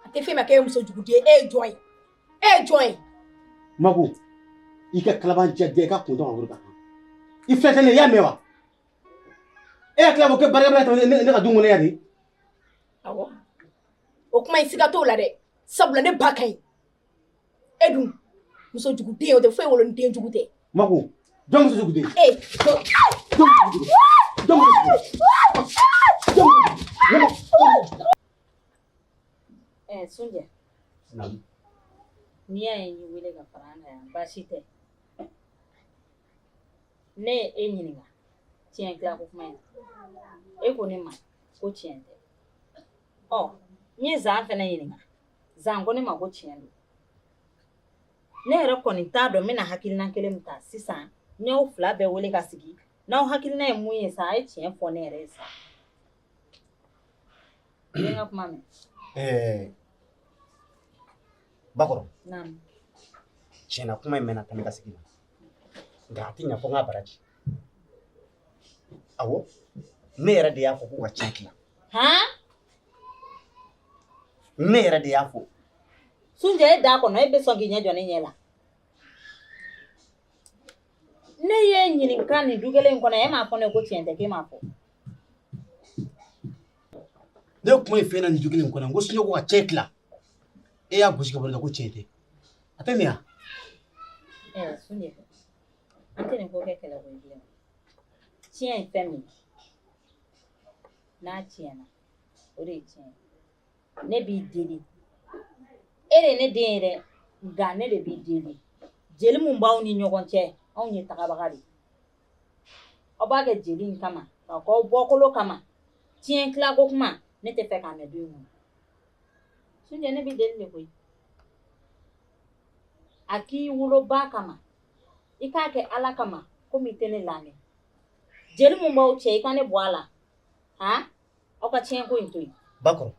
A tɛ fɔ e ma k'e ye muso jugu den ye e ye jɔn ye e ye jɔn ye mago i ka kalabanciya i ka kun dɔn kan i fɛn kelen i y'a mɛn wa e y'a tila ko kɛ barika ta ne ka du in kɔnɔ yan de o kuma in siga t'o la dɛ sabula ne ba ka ɲi e dun muso jugu den o tɛ foyi wolo ni den jugu tɛ ma ko jɔn muso jugu den ee jɔn jugu jɔn jugu ɛɛ Sunjɛ n'i y'a ye n y'i wele ka fara an kan yan baasi tɛ ne ye e ɲininka tiɲɛ tila ko kuma in e ko ne ma ko tiɲɛ tɛ ɔ n ye Zan fɛnɛ ɲininka Zan ko ne ma ko tiɲɛ don ne yɛrɛ kɔni t'a dɔn n bɛna hakilina kelen min ta sisan n'aw fila bɛɛ wele ka sigi n'aw hakilina ye min ye sa a ye tiɲɛ fɔ ne yɛrɛ ye sa ka kuma min Bakɔrɔ tiɲɛ na kuma in mɛn tɛmɛ ka sigi nka a tɛ ɲɛ fɔ n ka baraji Awɔ ne yɛrɛ de y'a fɔ ko ka cɛn tila ne yɛrɛ de y'a fɔ Sunjɛ e da kɔnɔ e bɛ sɔn k'i ɲɛ jɔ ne ɲɛ la ne y'e ɲininka nin du kelen in kɔnɔ e m'a fɔ ne ye ko tiɲɛ tɛ k'e m'a fɔ ne kuma ye fɛn na nin du kelen in kɔnɔ ko Sunjɛ ko ka cɛn tila e y'a gosi ka bɔ ne la ko tiɲɛ tɛ a tɛ nin ye wa Sunjɛ an tɛ nin ko kɛ kɛlɛ koyi bilen tiɲɛ ye fɛn min n'a tiɲɛna o de ye tiɲɛ ye ne b'i deli e de ye ne den ye dɛ nka ne de b'i deli jeli min b'aw ni ɲɔgɔn cɛ anw ye tagabaga de aw b'a kɛ jeli in kama k'a k'aw bɔkolo kama tiɲɛ tilako kuma ne t'a fɛ k'a mɛn du in kɔnɔ Sunjɛ ne b'i deli de koyi a k'i woloba kama i k'a kɛ ala kama komi i tɛ ne lamɛn jeli min b'aw cɛ i ka ne bɔ a la ha aw ka tiɲɛ ko in to yen Bakɔrɔ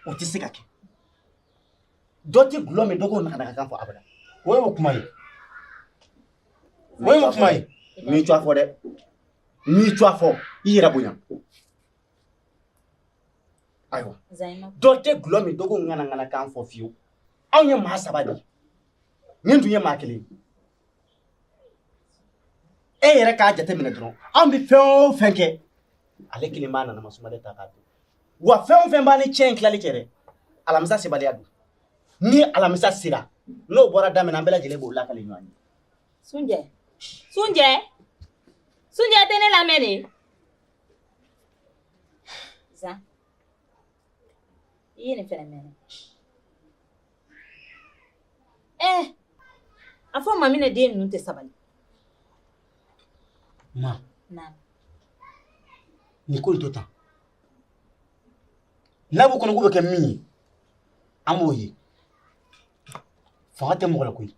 o tɛ se ka kɛ dɔ tɛ dulɔ min dɔ k'o ŋanaŋana kan fɔ abada o y'o kuma ye o y'o kuma ye n bɛ cɛn fɔ dɛ n bɛ cɛn fɔ i yɛrɛ bonya ayiwa dɔ tɛ dulɔ min dɔ k'o ŋanaŋana kan fɔ fiyewu anw ye maa saba de ye nin tun ye maa kelen e yɛrɛ k'a jateminɛ dɔrɔn anw bɛ fɛn o fɛn kɛ ale kelen b'a nana masuma de ta k'a dun wa fɛn o fɛn b'an ni cɛn in tilali cɛ dɛ alamisa sebaliya don ni alamisa sera n'o bɔra daminɛ an bɛɛ lajɛlen b'o lakale ɲɔgɔn ye Sunjɛ Sunjɛ Sunjɛ tɛ ne lamɛn de Zan i ye nin fana mɛn ɛɛ eh! a fɔ Maminɛ den ninnu tɛ sabali ma na nin ko in to tan n'a b'u kɔnɔ k'u bɛ kɛ min ye an b'o ye fanga tɛ mɔgɔ la koyi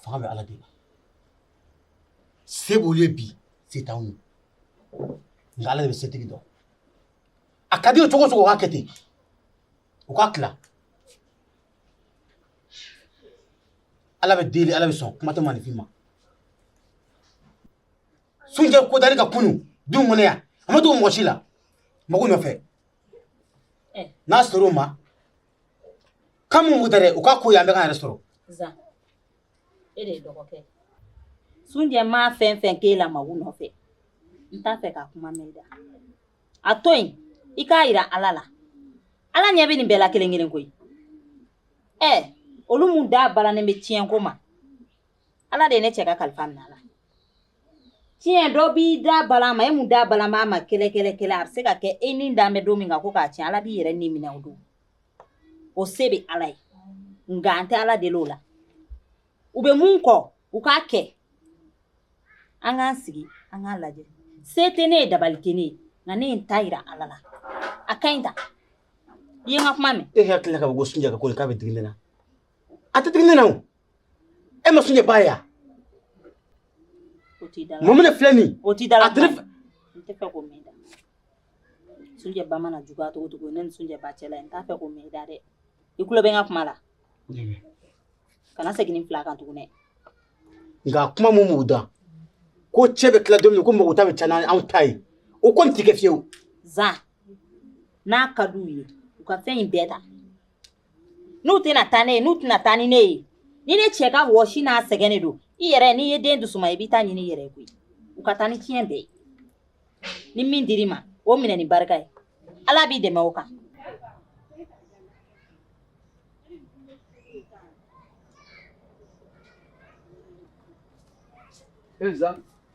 fanga bɛ Ala de la se b'olu ye bi se t'anw ye nka ala de bɛ setigi dɔn a ka d'u ye cogo o cogo u k'a kɛ ten u k'a tila ala bɛ deli ala bɛ sɔn kuma tɛ maninfin ma sunjɛ kodali ka kunu du kɔnɔ yan a ma dogo mɔgɔ si la mago nɔfɛ n'a sɔrɔ o ma kan mun tɛ dɛ u k'a ko yan an bɛ k'an yɛrɛ sɔrɔ e de ye dɔgɔkɛ ye sunjɛ ma fɛn fɛn k'e la mago nɔfɛ n t'a fɛ k'a kuma mɛn i da a to yen i k'a yira ala la ala ɲɛ bɛ nin bɛɛ la kelen kelen koyi ɛ olu mun da balannen bɛ tiɲɛ ko ma ala de ye ne cɛ ka kalifa minɛ a la tiɲɛ dɔ b'i da bala ma e mun da bala ma ma kɛlɛ kɛlɛ kɛlɛ a bɛ se ka kɛ e ni dan bɛ don min kan ko k'a tiɲɛ ala b'i yɛrɛ ni minɛ o don o se bɛ ala ye nka an tɛ ala deli o la u bɛ mun kɔ u k'a kɛ an k'an sigi an k'a lajɛ se tɛ ne ye dabali tɛ ne ye nka ne ye n ta yira ala la a ka ɲi ta i ye n ka kuma mɛn e hakili ka bɔ ko sunjɛ ko k'a bɛ digi ne na a tɛ digi ne na o e ma sunjɛ ba ye yan mun bɛ ne filɛ nin o t'i da la a tɛ ne fɛ n t'a fɛ k'o mɛn sunjɛ ba mana juguya cogo cogo ne ni sunjɛ ba cɛla n t'a fɛ k'o mɛn i da dɛ i tulo bɛ n ka kuma la kana segin nin fila kan tuguni nka kuma mun b'u da ko cɛn bɛ tila don min ko mago ta bɛ ca n'anw ta ye o kɔni tɛ kɛ fiyewu zan n'a ka d'u ye u ka fɛn in bɛɛ ta n'u tɛna taa ne ye n'u tɛna taa ni ne ye ni ne cɛ ka wɔsi n'a sɛgɛn de don i yɛrɛ n'i ye den dusuma i b'i ta ɲini i yɛrɛ ye koyi u ka taa ni tiɲɛ bɛɛ ye ni min dir'i ma o minɛ ni barika ye ala b'i dɛmɛ o kan ee Zan,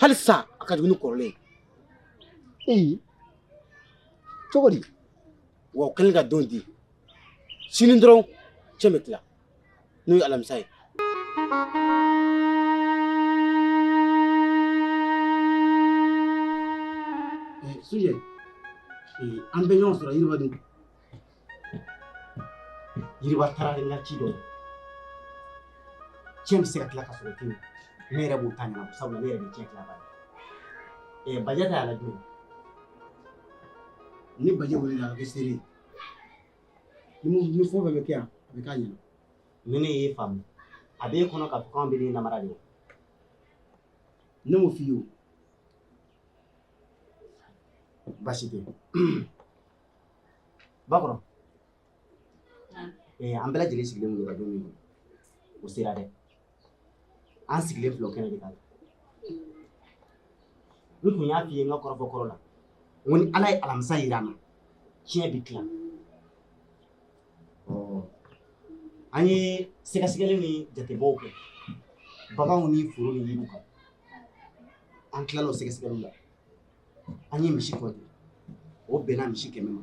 hali sa a ka dumuni kɔrɔlen ee cogo di wa o kɛlen ka don di sini dɔrɔn cɛn bɛ tila n'o ye alamisa ye sunjɛ an bɛ ɲɔgɔn sɔrɔ yiriba dun yiriba taara de la ci dɔ tiɲɛ bɛ se ka tila ka sɔrɔ ten ne yɛrɛ b'o ta ɲɛnabɔ sabula ne yɛrɛ bɛ tiɲɛ tilabaa ye ɛɛ bajɛ ta y'a lajɛ ni bajɛ welela a bɛ kɛ seere ye ni mun ni fɛn fɛn bɛ kɛ yan a bɛ k'a ɲɛna ni ne y'e faamu a b'e kɔnɔ k'a fɔ k'anw b'e de namara de wa ne m'o f'i ye o basi tɛ bakɔrɔ eh, an bɛɛ lajɛlen sigilen mun ka don min o sera dɛ an sigilen filɛ o kɛnɛ de kan n tun y'a f'i ye n ka kɔrɔfɔ kɔrɔ la n ko ni ala ye alamisa yira an na tiɲɛ bɛ tila an ye sɛgɛsɛgɛli ni jatebɔw kɛ baganw ni foro ni yiriw kan an tilal'o sɛgɛsɛgɛliw la an ye misi kɔnti o bɛnna misi kɛmɛ ma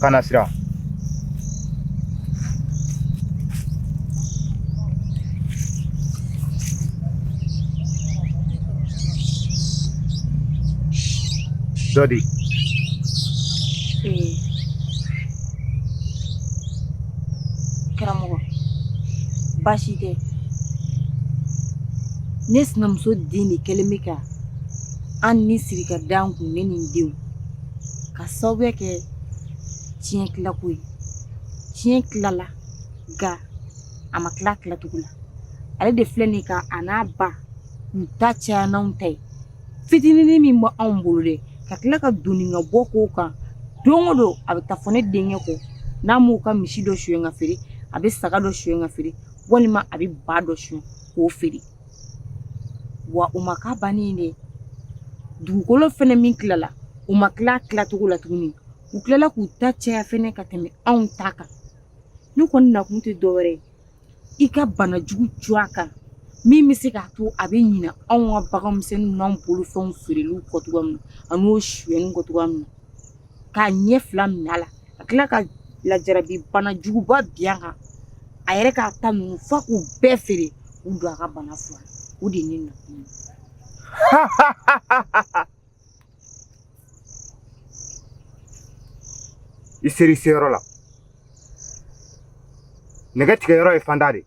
kana sira dɔ de karamɔgɔ baasi tɛ ne sinamuso den de kɛlen bɛ ka ɲani siri ka da an kun ne ni n denw ka sababu kɛ tiɲɛ tilako ye tiɲɛ tilala nka a ma tila tilacogo la ale de filɛ nin ka a n'a ba u ta caya n'anw ta ye fitinin min bɛ anw bolo dɛ ka tila ka don ka bɔ k'o kan don o don a bɛ taa fɔ ne denkɛ kɔ n'a m'u ka misi dɔ sonya ka feere a bɛ saga dɔ sonya ka feere walima a bɛ ba dɔ sonya k'o feere wa u ma ka ban yen dɛ dugukolo fana min tilala u ma tila tilacogo la tuguni u tilala k'u ta caya fana ka tɛmɛ anw ta kan ne kɔni nakun tɛ dɔwɛrɛ i ka banajugu jɔ a kan min bɛ se k'a to a bɛ ɲina anw ka baganmisɛnnin n'an bolofɛnw feereli kɔ cogoya min na ani o sonyani kɔ cogoya min na k'a ɲɛ fila minɛ a la ka tila ka lajarabi bana juguba bin a kan a yɛrɛ k'a ta ninnu f'a k'u bɛɛ feere k'u don a ka bana fura la o de ye ne nakun ye i ser'i seyɔrɔ la nɛgɛ tigɛyɔrɔ ye fanda de ye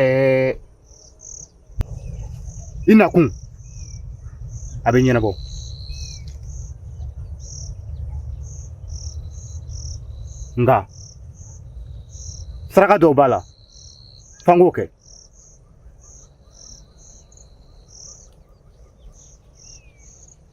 Ɛɛ i nakun a bɛ ɲɛnabɔ nka saraka dɔw b'a la f'an k'o kɛ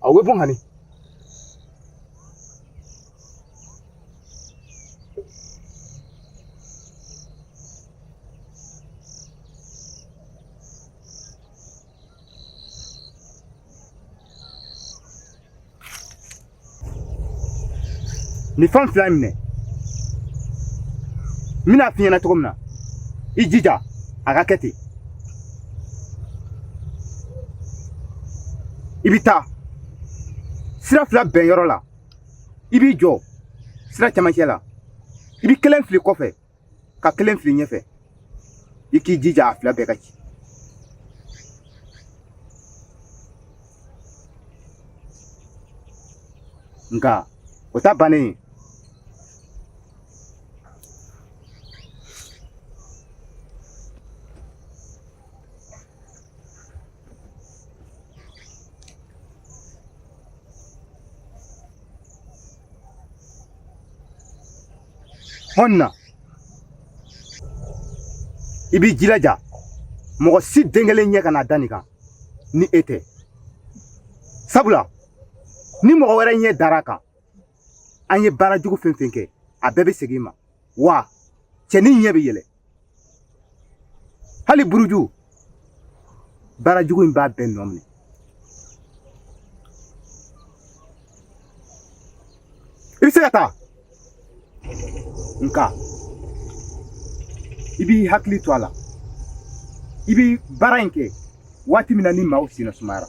a bɛ bɔ kaminin fan fila in minɛ n bɛna f'i ɲɛna cogo min na i jija a ka kɛ ten i bɛ taa sira fila bɛn yɔrɔ la i b'i jɔ sira camancɛ la i bɛ kelen fili kɔfɛ ka kelen fili ɲɛfɛ i k'i jija a fila bɛɛ ka ci nka o t'a bannen hɔn na i b'i jilaja mɔgɔ si den kelen ɲɛ kana da nin kan ni e tɛ sabula ni mɔgɔ wɛrɛ ɲɛ dar'a kan an ye baara jugu fɛn fɛn kɛ a bɛɛ bɛ segin i ma wa cɛnin ɲɛ bɛ yɛlɛ hali buruju baara jugu in b'a bɛɛ nɔ minɛ i bɛ se ka taa nka i b'i hakili to a la i bɛ baara in kɛ waati min na ni maaw senna sumayara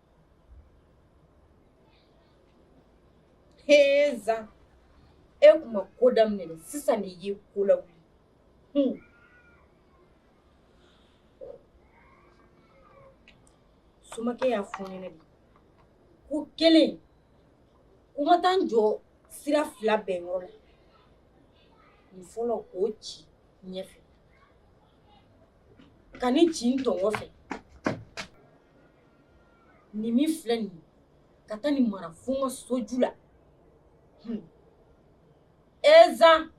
Ee Zan e tun ma ko daminɛ sisan de ye ko la somakɛ y'a fɔ n ɲɛna ko kelen ko n ma taa n jɔ sira fila bɛn yɔrɔ la n fɔlɔ k'o ci n ɲɛfɛ ka nin ci n tɔn kɔfɛ nin min filɛ nin ye ka taa nin mara fo n ka soju la hun e zan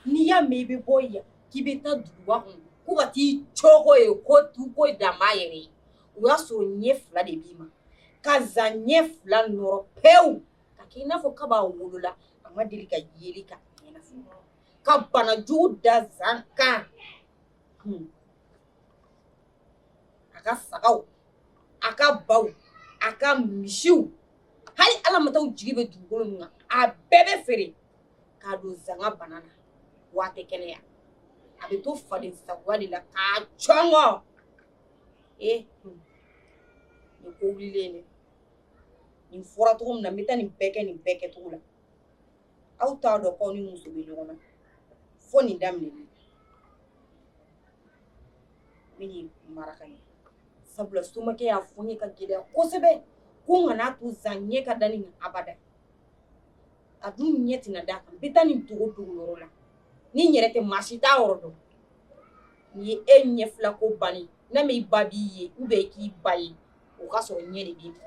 n'i y'a mɛn i bɛ bɔ yan k'i bɛ taa duguba kɔnɔ ko ka t'i cɔgɔ yen ko tu ko dan b'a yɛrɛ ye o y'a sɔrɔ ɲɛ fila de b'i ma ka zan ɲɛ fila nɔrɔ pewu ka kɛ i n'a fɔ kab'a wolola a ma deli ka yeli k'a ɲɛ na fɔlɔ ka bana jugu da zan kan a ka sagaw a ka baw a ka misiw hali alamataw jigi bɛ dugukolo min kan a bɛɛ bɛ feere k'a don zan ka bana na wa a tɛ kɛnɛya a bɛ to faden sagoya de la k'a cɔngɔ ee nin ko wulilen dɛ nin fɔra cogo min na n bɛ taa nin bɛɛ kɛ nin bɛɛ kɛcogo la aw t'a dɔn k'aw ni muso bɛ ɲɔgɔn na fo nin daminɛ n bɛ nin mara ka ɲɛ sabula somakɛ y'a fɔ n ye k'a gɛlɛya kosɛbɛ ko n kana to zan ɲɛ ka da nin kan abada a dun ɲɛ tɛna d'a kan n bɛ taa nin dogo dogoyɔrɔ la ni n yɛrɛ tɛ maa si t'a yɔrɔ dɔn nin ye e ɲɛ fila ko bannen n'a ma i ba b'i ye u bɛ k'i ba ye o k'a sɔrɔ ɲɛ de b'i bɔ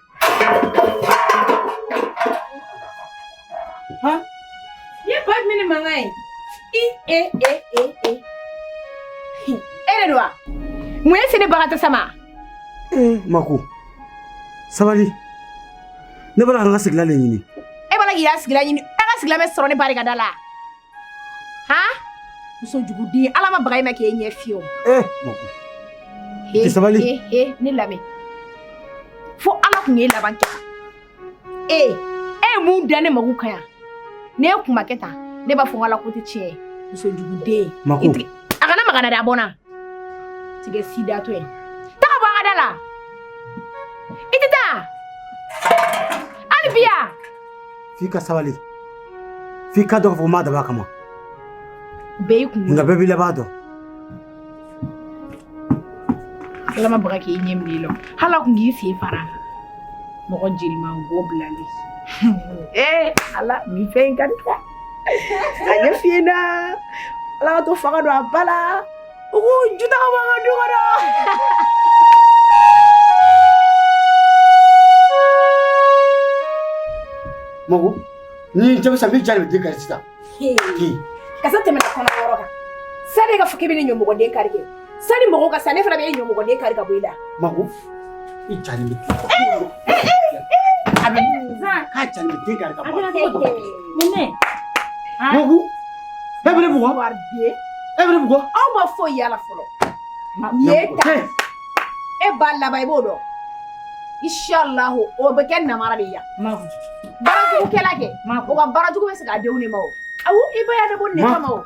Ha? Ye bag mini mangai. I e e e e. Hɛrɛ don wa? Mun y'i se ne bagatɔ sama? Ee mako sabali ne b'a la ka n ka sigila de ɲini. E b'a la k'i ka sigila ɲini e ka sigila bɛ sɔrɔ ne barikada la. han muso juguden ala ma baga i ma k'e ɲɛ fiyɛ o ee mako i tɛ sabali he he ne lamɛn fo ala tun y'e laban kɛ ee e ye mun da ne mako kan yan ne ye kuma kɛ tan ne b'a fɔ n ka ala ko tɛ tiɲɛ ye muso juguden Mako. I tigi- a kana magana da a bɔ n na tigɛ sidatɔ ye taa ka bɔ an ka da la i tɛ taa hali bi yan f'i ka sabali f'i k'a dɔn k'a fɔ ko n m'a dabɔ a kama bɛɛ y'i kun nka bɛɛ b'i laban dɔn ala ma baga k'i ɲɛ minɛ i la hali a kun k'i sen fara mɔgɔ jeliman bɔ bilali ee ala nin fɛn in ka di dɛ a ɲɛ fiyɛnna ala ka to faga don a ba la Uy, juta ka mga duwa na! Mako, ni jamu sa mi jalo di kari sisan. Ki. Kasa tɛmɛ na kɔnɔ yɔrɔ kan. Sani k'a fɔ k'i bɛ ne ɲɔmɔgɔden kari kɛ. Sani mɔgɔw ka se ne fana bɛ e ɲɔmɔgɔden kari ka bɔ i la. Mako, aw ma foyi y'a la fɔlɔ e b'a laban i b'o dɔn ishalahu o bɛ kɛ namara de yan baarajugukɛla kɛ o ka baarajugu bɛ segin a denw de ma o awo i ba y'a dɔn ko nɛgɛ ma o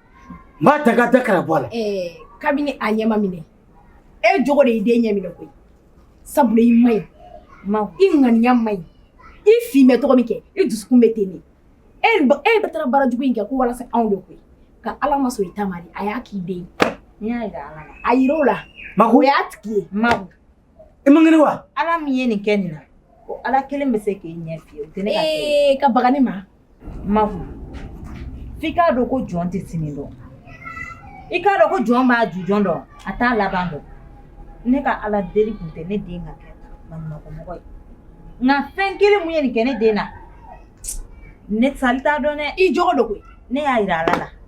N b'a ta ka da kala bɔ a la. Ɛɛ kabini a ɲɛ ma minɛ, e jogo de y'i den ɲɛ minɛ koyi, sabula i man ɲi, i ŋaniya man ɲi, i fin bɛ cogo min kɛ, i dusukun bɛ ten de, e e de taara baara jugu in kɛ ko walasa anw de koyi, ka Ala ma sɔn i ta ma de, a y'a k'i den ye, n y'a jira Ala la, a jira o la, Mago, o y'a tigi ye, Mago, i man kɛnɛ wa? Ala min ye nin kɛ nin na, ko Ala kelen bɛ se k'e ɲɛ fiyɛ, o tɛ ne ka kɛ ye, ee ka baga ne ma, Ma f'i k'a dɔn ko jɔn tɛ sini dɔn i k'a dɔn ko jɔn b'a jujɔn dɔn a t'a laban dɔn ne ka ala deli tun tɛ ne den ka kɛ mɔgɔ ye nka fɛn kelen min ye nin kɛ ne den na ne t'a dɔn ni jɔn don koyi ne y'a jira ala la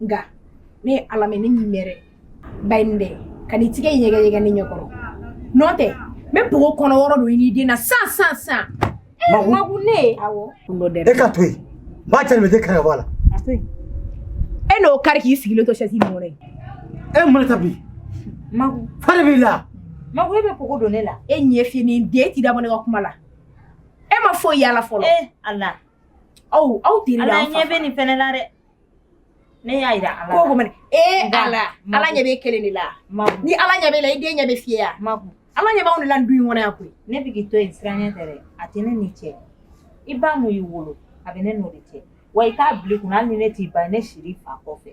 nka ne ye ala mɛ ne min mɛrɛ ba ye nin dɛ ka ni tigɛ ɲɛgɛn ɲɛgɛn ne ɲɛkɔrɔ nɔ tɛ n bɛ pogo kɔnɔ wɔɔrɔ don i n'i den na san san san Magu. magu ne ye awɔ kun dɔ dɛrɛ e ka to yen maa cɛ nin bɛ den kari ka bɔ a la e n'o kari k'i sigilen to sɛsi nin kɔnɔ ye e mun de ta bi magu fa de b'i la magu e bɛ pogo don ne la e ɲɛ fiyen den t'i da bɔ ne ka kuma la e ma foyi y'a la fɔlɔ ee ala aw aw teri ala ɲɛ bɛ nin fɛnɛ la dɛ Ne y'a jira ala ko ko ee ala ala ɲɛ b'e kelen de la ni ala ɲɛ b'e la i den ɲɛ bɛ fiyɛ wa ala ɲɛ b'aw de la du in kɔnɔ yan koyi ne bɛ k'i to yen siranɲɛ tɛ dɛ a tɛ ne n'i cɛ i ba min y'i wolo a bɛ ne n'o de cɛ wa i k'a bil'i kun na hali ni ne t'i ba ne sir'i fa kɔfɛ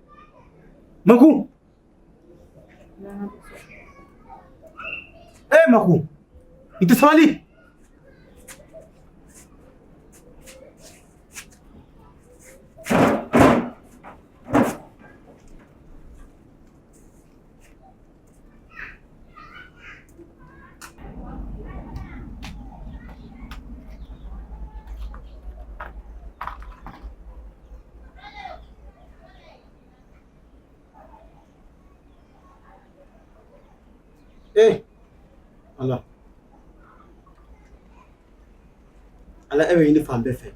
Maku. Eh, Maku. Ito sa mali. Eh. Ala. Ala e bɛ ɲini fan bɛɛ fɛ.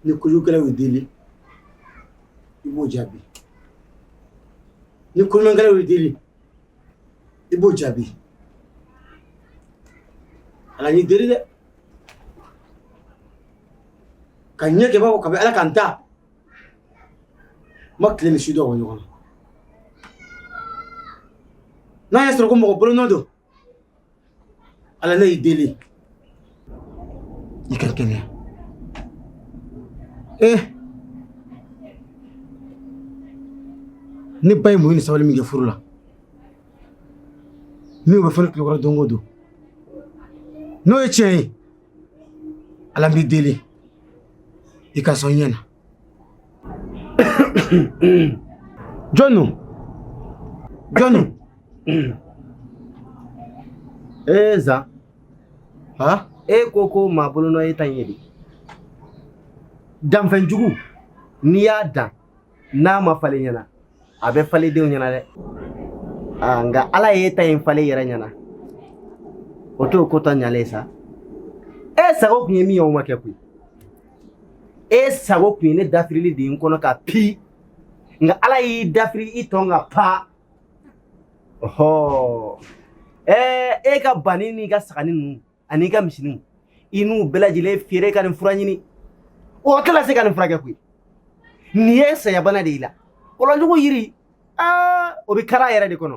Ni kojugukɛlaw y'e deli i b'o jaabi ni koɲumankɛlaw y'e deli i b'o jaabi ala n y'i deli dɛ ka nin kɛbaga bɛ ala ka da n ma tile ni su dɔ o ɲɔgɔn na n'a y'a sɔrɔ ko mɔgɔ bolonɔ don Ala ne y'i deli i ka kɛnɛya ee eh! ne ba ye muɲu ni sabali min kɛ furu la min bɛ fɔ n tulo kɔrɔ don o don n'o ye tiɲɛ ye ala n b'i deli i ka sɔn ɲɛ na Jonu Jonu ee eh, zan ha e eh, ko ko maa bolonɔ ye tan ye de danfɛn jugu n'i y'a dan n'a ma falen i ɲɛna a bɛ falen i denw ɲɛna dɛ aa nka ala y'e ta in falen i yɛrɛ ɲɛna o t'o ko tɔ ɲalen sa e sago kun ye min ye o ma kɛ koyi e sago tun ye ne dafirili de ye n kɔnɔ kan pi nka ala y'i dafiri i tɔn kan pa ɔhɔ ɛɛ e ka bani n'i ka sagani ninnu an'i ka misiniw i n'u bɛɛ lajɛlen feere ka nin fura ɲini o tɛna se ka nin furakɛ koyi nin ye sayabana de y'i la kɔlɔnjugu yiri aa o bɛ kari a yɛrɛ de kɔnɔ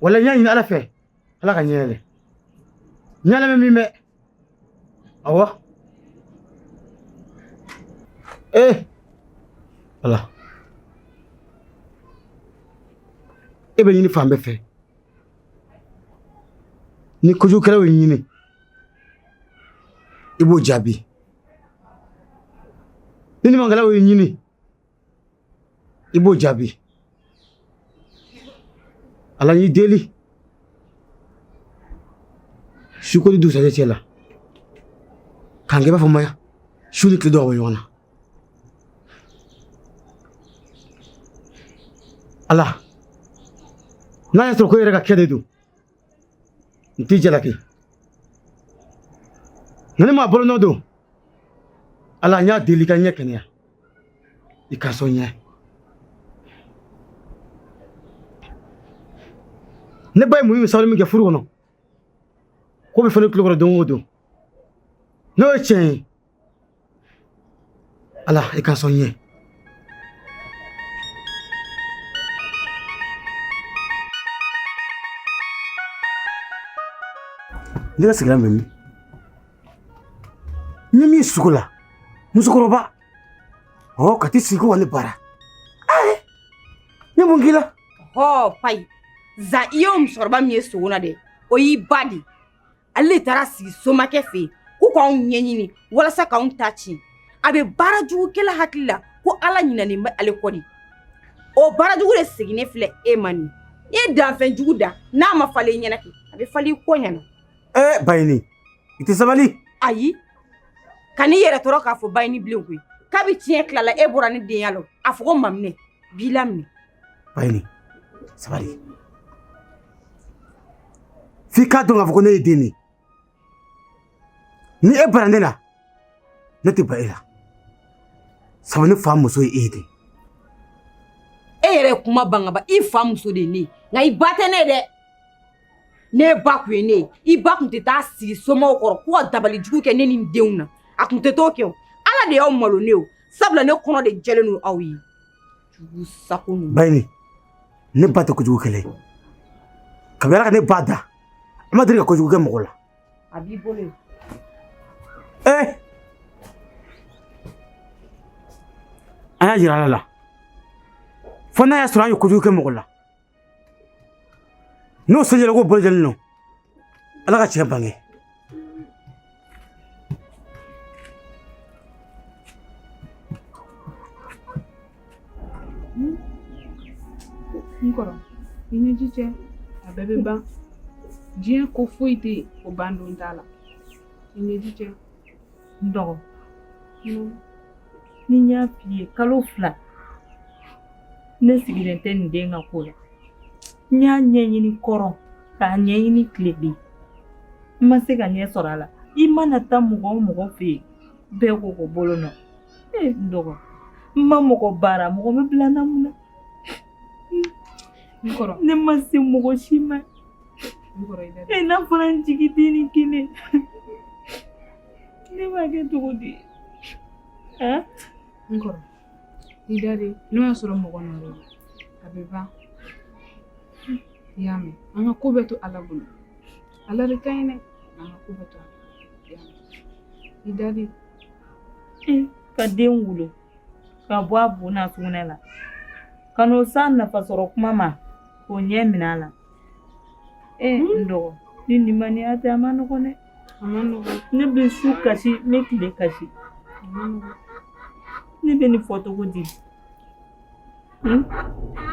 wala n y'a ɲini ala fɛ ala ka n ɲɛ yɛlɛ n y'a lamɛn min bɛ awɔ ee eh! ala e bɛ ɲini fan bɛɛ fɛ ni kojugukɛlaw y'e ɲini i b'o jaabi ni ɲumankɛlaw y'e ɲini i b'o jaabi ala n y'i deli sukori dusɛjɛ cɛ la k'an kɛ b'a fɔ maya su ni tile dɔw bɛ ɲɔgɔn na ala n'a y'a sɔrɔ ko e yɛrɛ ka kɛ de don ntije la kɛ ni maa bolonɔ don ala n y'a deli ka n ɲɛ kɛnɛya i ka sɔn n ye ne ba ye muɲu ni sabali min kɛ furu kɔnɔ k'o bɛ fɔ ne tulo kɔrɔ don o don n'o ye tiɲɛ ye ala i ka sɔn n ye ne ka sigira mɛmi ni min ye sugu la musokɔrɔba ɔ k'a tɛ sigi ko ka ne bara ayi ne mun k'i la hɔ payi zan i ye musokɔrɔba min ye sugu la dɛ o y'i ba de ye ale taara sigi somakɛ fɛ yen ko k'anw ɲɛɲini walasa k'anw ta tiɲɛ a bɛ baara jugukɛla hakili la ko ala ɲinanen bɛ ale kɔ ni o baara jugu de seginnen filɛ e ma n'i ye danfɛn jugu dan n'a ma falen i ɲɛna kɛ a bɛ falen i kɔ ɲɛna ɛɛ bayini i tɛ sabali ayi kan'i yɛrɛ tɔɔrɔ k'a fɔ bayini bilen koyi kabi tiɲɛ tilala e bɔra ne denya la a fɔ ko maminɛ b'i laminɛ Bayini sabali f'i k'a dɔn k'a fɔ ko ne ye den de ye ni e banna ne la ne tɛ ban e la sabu ne fa muso ye e ye dɛ e yɛrɛ ye kuma ban ka ban i fa muso de ye ne ye nka i ba tɛ ne ye dɛ n'e ba tun ye ne ye i ba tun tɛ taa sigi somaw kɔrɔ ko ka dabali jugu kɛ ne ni n denw na a tun tɛ t'o kɛ o ala de y'aw malo ne ye o sabula ne kɔnɔ de jɛlen don aw ye jugu sago ninnu bayini ne ba tɛ kojugukɛla ye kabini ala ka ne ba dan a ma deli ka kojugu kɛ mɔgɔ la a b'i bolo yen ee an y'a jira ala la fo n'a y'a sɔrɔ an ye kojugu kɛ mɔgɔ la n'o sɛgɛrɛ ko bɛɛ lajɛlen don ala ka tiɲɛ bange n kɔrɔ i ɲɛji cɛ a bɛɛ bɛ ban diɲɛ ko foyi tɛ yen o ban don t'a la i ɲɛji cɛ N dɔgɔ ni n y'a f'i ye kalo fila ne sigilen tɛ nin den ka ko la n y'a ɲɛɲini kɔrɔn k'a ɲɛɲini tilebin n ma se ka ɲɛ sɔrɔ a la i mana taa mɔgɔ o mɔgɔ fɛ yen bɛɛ ko ko bolo nɔ ee n dɔgɔ n ma mɔgɔ baara mɔgɔ bɛ bila n na mun na ne ma se mɔgɔ si ma e n'a fɔra n jigi dennin kelen ne b'a kɛ cogo di n kɔrɔ i da de n'o y'a sɔrɔ mɔgɔ nɔ don a bɛ ban i y'a mɛn an ka ko bɛɛ to ala bolo ala de ka ɲi dɛ an ka ko bɛɛ to ala i da de ka den wolo ka bɔ a bo n'a sugunɛ la ka n'o s'a nafa sɔrɔ tuma ma k'o ɲɛ minɛ a la ee n dɔgɔ ni limaniya tɛ a man nɔgɔn dɛ ne bɛ su kasi ne bɛ tile kasi ne bɛ nin fɔ cogo di hmm?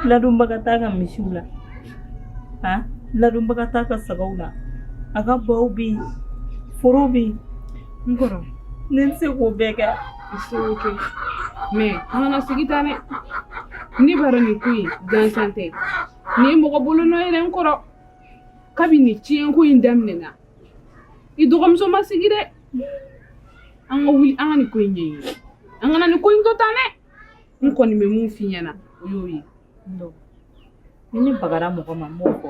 ladonbaga t'a ka misiw la han ladonbaga t'a ka sagaw la a ka baw bɛ yen foro bɛ yen n kɔrɔ ne tɛ se k'o bɛɛ kɛ i se k'o kɛ mɛ an kana sigi tan dɛ ne b'a dɔn nin ko in gansan tɛ Nin ye mɔgɔ bolo nɔ ye dɛ n kɔrɔ kabini nin ciyɛnko in daminɛna i dɔgɔmuso ma sigi dɛ an ka wuli an ka nin ko in ɲɛɲini an kana nin ko in to tan dɛ n kɔni bɛ min f'i ɲɛna o y'o ye ni ne bagara mɔgɔ ma n b'o fɔ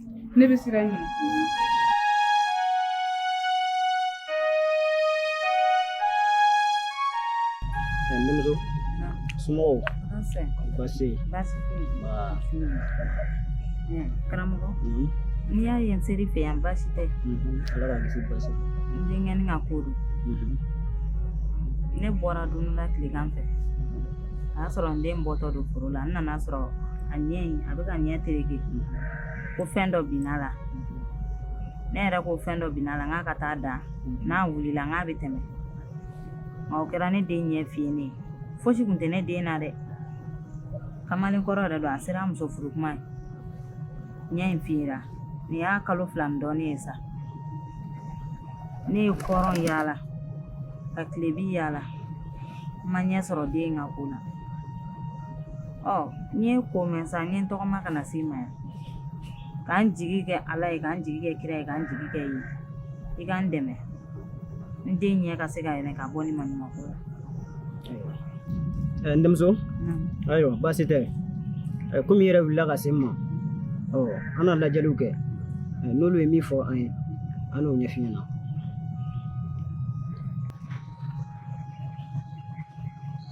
ne bɛ siran ɲɛ denmuso somɔgɔw baasi baasi karamɔgɔ mhm. n'i y'a ye n ser'i fɛ yan baasi tɛ mhm. ala k'an kisi baasi n denkɛ nin ka ko don mhm. ne bɔra dumuni la tilegan fɛ a y'a sɔrɔ n den bɔtɔ don foro la n nan'a sɔrɔ a ɲɛ in a bɛ k'a ɲɛ tereke ko fɛn dɔ binn'a la ne yɛrɛ ko fɛn dɔ binn'a la k'a ka taa da n'a wulila k'a bɛ tɛmɛ nka o kɛra ne den ɲɛ fiyenen ye fosi tun tɛ ne den na dɛ kamalen kɔrɔ yɛrɛ don a sera muso furu kuma ye ɲɛ in fiyera nin y'a kalo fila ni dɔɔnin ye sa ne ye kɔrɔn yaala ka tilebi yaala n ma ɲɛ sɔrɔ den ka ko la ɔ n y'i ko mɛn sa n ye tɔgɔma ka na s'i ma yan k'an jigi kɛ ala ye k'an jigi kɛ kira ye k'an jigi k'i ye i k'an dɛmɛ n den ɲɛ ka se ka yɛlɛ ka bɔ nin maɲumanko la eh, n denmuso ayiwa baasi tɛ eh, komi i yɛrɛ wulila ka se n ma ɔ an na lajɛliw kɛ eh, n'olu ye min fɔ an ye an n'o ɲɛf'i ɲɛna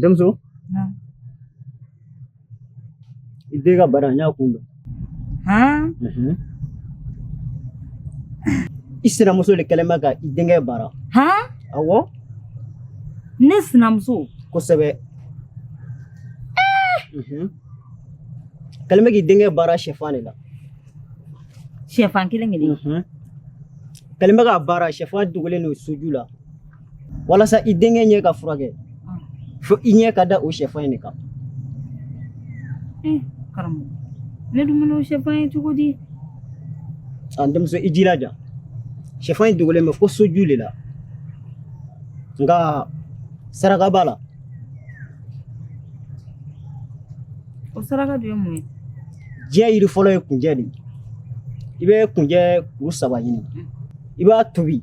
denmuso i den ka bana n y'a kun dɔn i sinamuso de kɛlen bɛ ka i denkɛ baara awɔ ne sinamuso kosɛbɛ kɛlen bɛ k'i denkɛ baara sɛfan de la sɛfan kelen kelen kɛlen bɛ k'a baara sɛfan dogolen don soju la walasa i denkɛ ɲɛ ka furakɛ ah. fo i ɲɛ ka da o sɛfan in de kan eh, karamɔgɔ ne dun bɛna o sɛfan ye cogo di an denmuso i jilaja sɛfan in dogolen bɛ fo soju de la nka saraka b'a la o saraka dun ye mun ye diɲɛ yiri fɔlɔ ye kunjɛ de ye i bɛ kunjɛ kuru saba ɲini mm. i b'a tobi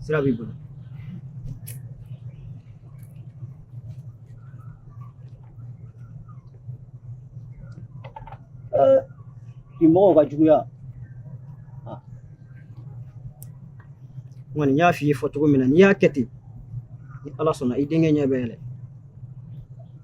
sira b'i bolo bi mɔgɔw ka juguya kɔni n y'a f'i ye fɔ cogo min na n'i y'a kɛ ten ni ala sɔnna i denkɛ ɲɛ bɛ yɛlɛ